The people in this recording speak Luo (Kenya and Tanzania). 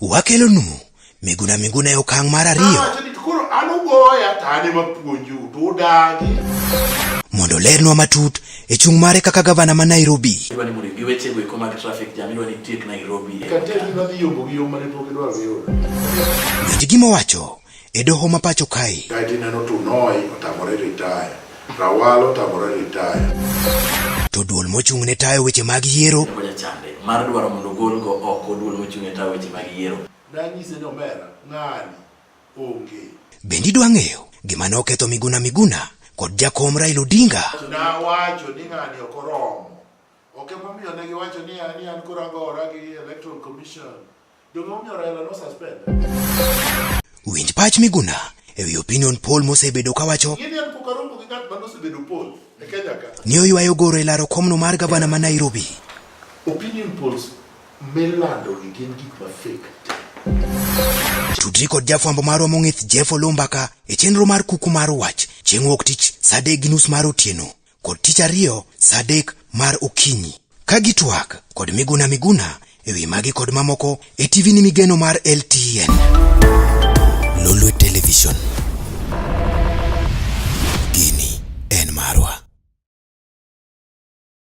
wakelonu miguna miguna e okang' mar ariyo ah, mondo olernwa matut e chung' mare kaka gavana ma Nairobi. Winj gima owacho. e doho ma pacho kae. Kae tineno Tunoi otamore retire, Rawal otamore retire. To duol mochung' ne tayo weche mag yiero. Oja chande mar dwaro mondo ogol go oko duol mochung' ne tayo weche mag yiero. Nanyise ni omera ng'ani onge. Bendi dwa ng'eyo gima ne oketho Miguna Miguna kod jakom Raila Odinga? Nawacho ni ng'ani ok oromo. Ok emomiyo ne giwacho ni an koro agora gi Electoral Commission. Winj pach Miguna e wi opinion poll mosebedo kawacho ni oywayo goro e laro komno mar gavana ma Nairobi. Opinion polls milando gi gin gik ma fake. Tudri kod jafwambo marwa mong'ith Jeff Olumbaka e chenro mar kuku mar wach chieng' wuok tich saa adek gi nus mar otieno. kod tich ariyo sa adek mar okinyi ka gitwak kod miguna miguna e wi magi kod mamoko e tv ni migeno mar ltn lolwe television